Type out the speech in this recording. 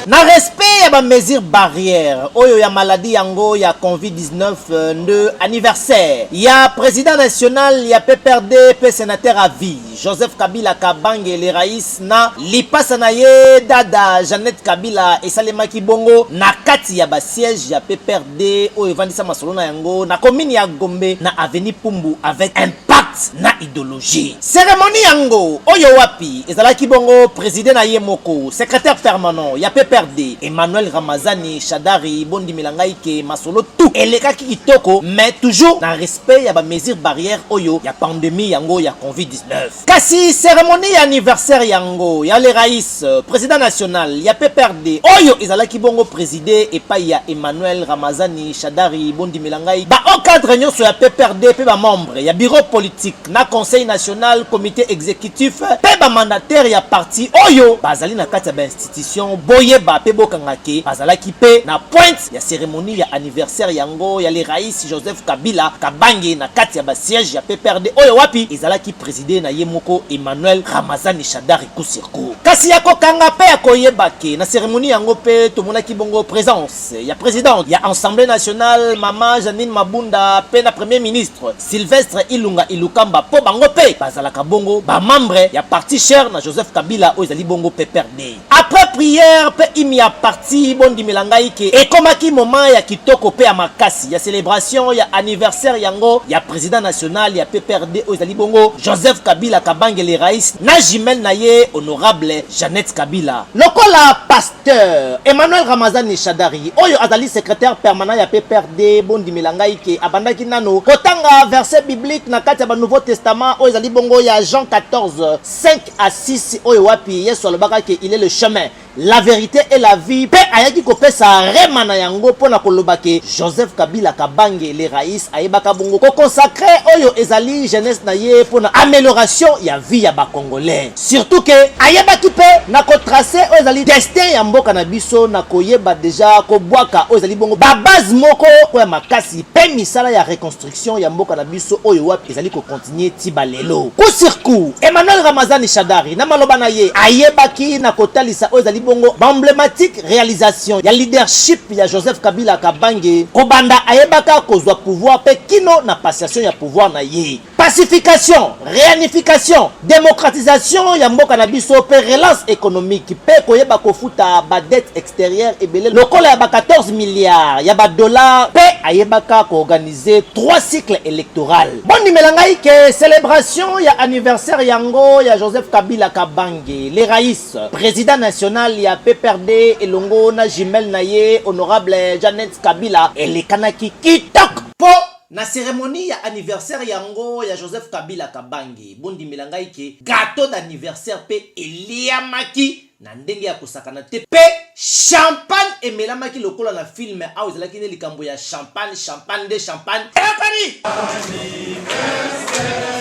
na respect ya bamesure barrière oyo ya maladi yango ya covid-19 euh, nde anniversaire ya président national ya pprd mpe sénateur à vie joseph kabila kabange le rais na lipasa na ye dada jeannette kabila esalemaki bongo na kati ya basiège ya pprd de oyo evandisa masolo na yango na komini ya Gombe na avenue Pumbu avec impact na ideologie. Seremoni yango oyo wapi ezalaki bongo president na ye moko secrétaire permanent ya PPRD Emmanuel Ramazani Shadari bondimela ngai ke masolo tout elekaki kitoko mais toujours na respect ya ba mesures barrières oyo ya pandemie yango ya Covid-19. Kasi ceremonie ya anniversaire yango ya le rais president national ya PPRD oyo ezalaki bongo preside epai ya Emmanuel Ramazani Shadari bondimela ngai ba hauts cadres nyonso ya PPRD mpe ba membres ya bureau politique na conseil national comite executif mpe ba mandataires ya parti oyo bazali na kati ya ba institutions boyeba mpe bokanga ke bazalaki mpe na pointe ya ceremonie ya anniversaire yango ya le Rais Joseph Kabila Kabange na kati ya ba sièges ya pprd oyo wapi ezalaki presider na ye moko Emmanuel Ramazani Shadary Kusirku. Kasi ya kokanga mpe ya koyeba que na ceremonie yango mpe tomonaki bongo presence ya presidente ya Assemblee nationale mama Jeanine Mabunda mpe na Premier ministre Sylvestre Ilunga Ilukamba mpo bango mpe bazalaka bongo ba membres ya parti cher na Joseph Kabila oyo ezali bongo pprd. Après prière pe hymne ya parti bondimela ngai ke ekomaki moment ya kitoko pe ya makasi ya celebration ya anniversaire yango ya president national ya pprd oyo ezali bongo Joseph Kabila Kabange le Rais na jumelle na ye honorable Jeannette Kabila. Lokola pasteur Emmanuel Ramazani Shadary oyo azali secretaire permanent ya pprd bondimela ngai ke abandaki nanu kotanga verset biblique na kati ya ba nouveau testament oyo ezali bongo ya Jean 14, 5 Assisi oyo wapi Yesu alobaka ke il est le chemin, la verite et la vie pe ayaki kopesa rhema na yango pona koloba ke Joseph Kabila Kabange le Rais ayebaka bongo ko consacre oyo ezali jeunesse na ye pona amelioration ya vie ya ba Congolais. Surtout ke ayebaki pe na ko tracer oyo ezali destin ya mboka na biso na koyeba dejà kobwaka oyo ezali bongo ba bases moko ya makasi pe misala ya reconstruction. Election ya mboka na biso oyo wapi ezali ko continuer ti ba lelo. Kusirku, Emmanuel Ramazani Shadari na maloba na ye ayebaki na kotalisa oyo ezali bongo ba emblematiques realisations ya leadership ya Joseph Kabila Kabange kobanda ayebaka kozwa pouvoir mpe kino na passation ya pouvoir na ye. Pacification, reunification, democratisation ya mboka na biso mpe relance economique mpe koyeba kofuta ba dettes, etc. exterieur ebele lokola ya ba 14 milliards ya ba dollars mpe ayebaka koorganize 3 cycle électoral bondimela ngai ke celebration ya anniversaire yango ya joseph kabila kabange le rais président national ya pprd elongo na jumelle na ye honorable janet kabila elekanaki kitoko mpo na ceremonie ya anniversaire yango ya joseph kabila kabange bondimela ngai ke gateau d'anniversaire mpe eliamaki na ndenge ya kosakana te mpe champagne emelamaki lokola na film awa ezalaki nde likambo ya champagne champagne nde champagne eyokani